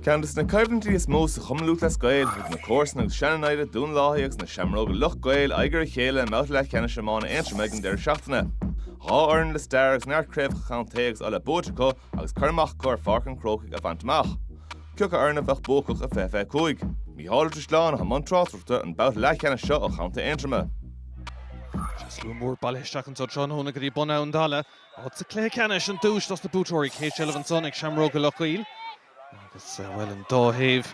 Ceann de na coimhlintí is mó sa Chumann Lúthchleas Gael, thug na comharsana agus sean-naimhde Dún Lathaí agus na Seamróga Loch gCaol aghaidh ar a chéile i mbabhta leathcheannais iomána Aontroma ag an deireadh seachtaine. Dhá fhoireann le stair agus neart craobhacha contae agus Uladh buaite acu agus cur amach acu ar Pháirc an Chrócaigh a bhaint amach. Cé acu foireann a bheadh buacach i 2025? Micheál Ó Drisleáin i mbun tráchtaireachta don bhabhta leathcheannais seo ó chontae Aontroma. Slua mór bailithe isteach anseo tráthnóna go dtí Bun Abhann Dalla Áit sa chluiche ceannais an duais dos na buaiteoirí, céad seilbh ansan ag Seamróga Loch gCaol agus, bhuel, an dá thaobh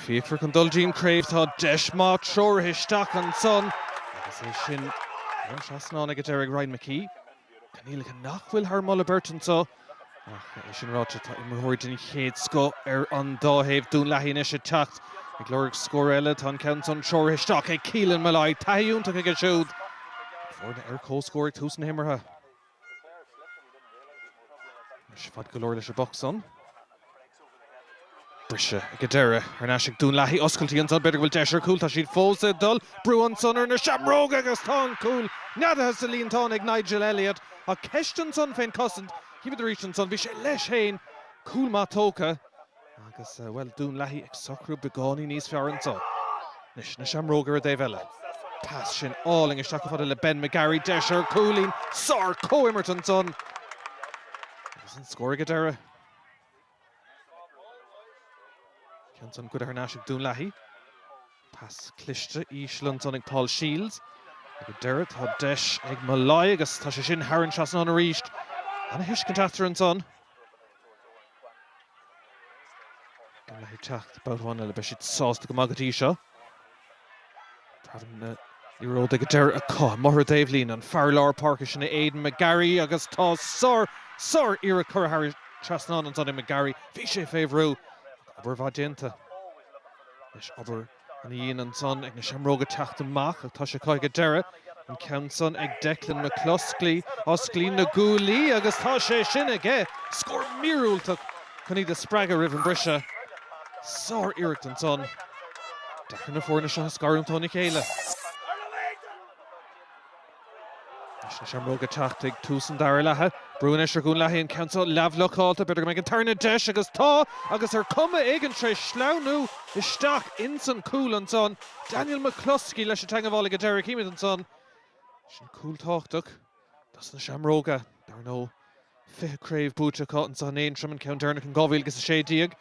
fíocmhar chun dul dtí'n craobh. Tá deis maith treoraithe isteach ansan agus é sin thar an trasnán ag an deireadh ag Ryan McKee. Coinníollacha nach bhfuil thar moladh beirte anso ach, é sin ráite, tá imreoirí den chéad scoth ar an dá thaobh. Dún Lathaí anois ag teacht ag lorg scór eile. Tá an ceann san treoraithe isteach ag Keelan Molloy. Taithí iontach aige siúd is foirne ar comhscór ag tús na himeartha. Anois, fad go leor leis an bpoc san. Briseadh ag an deireadh. Thar n-ais ag Dún Lathaí. Oscailtí ansan. B'fhéidir go bhfuil deis ar chúl. Tá siad fós ag dul. Brú ansan ar na Seamróga agus tá an cúl neadaithe sa líontán ag Nigel Elliot. Ach ceist ansan fén gcosaint. Chímid arís ansan. Bhí sé leis féin. Cúl maith tógtha. Agus, bhuel, Dún Lathaí ag socrú beagáinín níos fearr anseo. Anois, na Seamróga ar an dtaobh eile. Pas sin álainn isteach chomh fada le Ben McGarry. Deis ar chúilín. Sár-chomhimirt ansan. Agus an scór ag an deireadh. Ceann san goidte thar n-ais ag Dún Lathaí. Pas cliste íseal ansan ag Paul Shields. Ag an deireadh tá deis ag Molloy agus tá sé sin thar an trasnán arís. Ana-thuiscint eatarthu ansan. Dún Lathaí ag teacht babhta amháin eile, beidh siad sásta go maith go dtí seo. Tagann na liathróidí go deireadh acu. I dtreo an taobhlíne, an fear lár páirce sin é Aidan McGarry agus tá sár, sár iarracht curtha thar trasnán ansan ag McGarry. Bhí sé fé bhrú ach obair mhaith déanta leis. Obair. Aon líon ansan ag na Seamróga teacht amach, ach tá sé acu ag an deireadh, an ceann san ag Declan McCluskey, osclaíonn na guaillí agus tá sé sin aige! Scór míorúilteach chun iad a spreagadh roimh an briseadh. Sár-iarracht ansan. Deacair na foirne seo a scarúint óna chéile. Leis na Seamróga ag teacht ag tús an dara leatha, brú anois ar Dhún Lathaí an ceann seo leathbhlocáilte. B'fhéidir go mbeidh an tarna deis, agus tá, agus ar chuma éigin tar éis sleamhnú isteach ins an chúl ansan. Daniel McCluskey leis an dteangmháil ag an deireadh. Chímid ansan, sin cúl tábhachtach dos na Seamróga, dar ndóigh. 20 craobh buaite acu anseo in Aontroim, an ceann deireanach in 2016.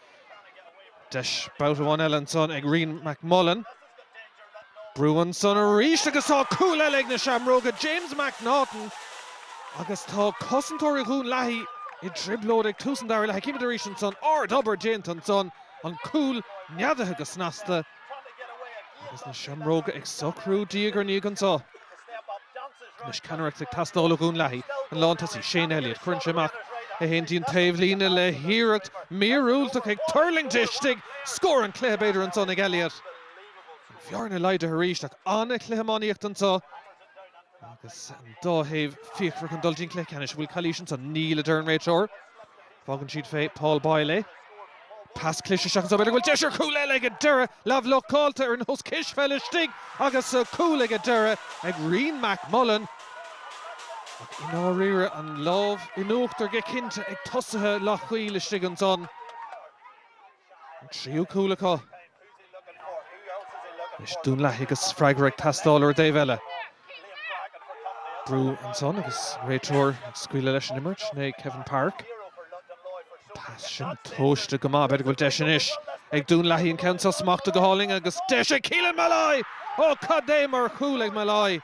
Deis babhta amháin eile ansan ag Rian McMullen. Brú ansan arís agus tá cúl eile ag na Seamróga, James McNaughton, agus tá cosantóirí Dhún Lathaí i dtrioblóid ag tús an dara leath. Címid arís ansan ard-obair déanta ansan, an cúl neadaithe go snasta. Agus na seamróga ag socrú diaidh ar ndiaidh anso. Anois ceannaireacht ag teastáil ó Dhún Lathaí, an lántosaí Shane Elliott. Cuireann sé amach é fhéin dtí'n taobhlíne le hiarracht mhíorúilteach ag tuirling istigh. Scór an chluiche b'fhéidir ansan ag Elliott. An bhearna laghdaithe arís ach an-chluiche iománaíochta anso agus an dá thaobh fíochmhar chun dul dtí'n cluiche ceannais. An bhfuil calaois ansan? Níl, a deir an réiteoir. Fágann siad fé Paul Boyle é. Pas cliste seans b'fhéidir go bhfuil deis ar chúl eile ag an deireadh. Leathbhlocáilte ar nós cispheil istigh agus cúl ag an deireadh ag Rian McMullen. Ach i ndáiríre, an lámh in uachtar go cinnte ag tosaithe Loch gCaol istigh ansan. an tríú cúl acu. Anois Dún Lathaí agus freagra ag teastáil ar an dtaobh eile. Brú ansan agus an réiteoir ag scaoileadh leis an imirt, ná Kevin Parke. An pas sin tomhaiste go maith, b'fhéidir go bhfuil deis anois ag Dún Lathaí an ceann so smachtaithe go hálainn agus deis ag Keelan Molloy! Ó cad é mar chúl ag Molloy!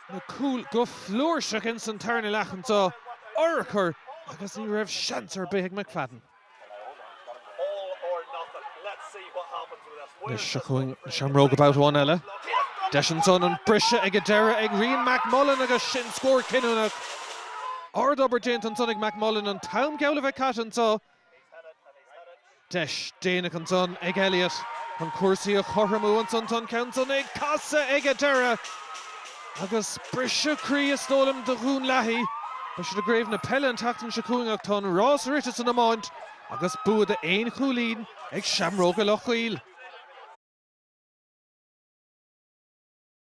na cúil go flúirseach ins an tarna leath anso an-urchar agus ní raibh seans ar bith ag McFadden. Anois seo chugainn na Seamróga babhta amháin eile. Deis ansan an briseadh ag an deireadh ag Rian McMullan agus sin scór cinniúnach. Ard-obair déanta ansan ag McMullan an t-am geall a bheith caite anseo. Deis déanach ansan ag Elliott chun cúrsaí a chothromú ansan tá an ceann san ag casadh ag an deireadh agus briseadh croí is dóigh liom do Dhún Lathaí. Beidh siad i gcraobh na peile an tseachtain seo chugainn ach tá an rás rite san iomáint agus bua d'aon chúilín ag Seamróga Loch gCaol.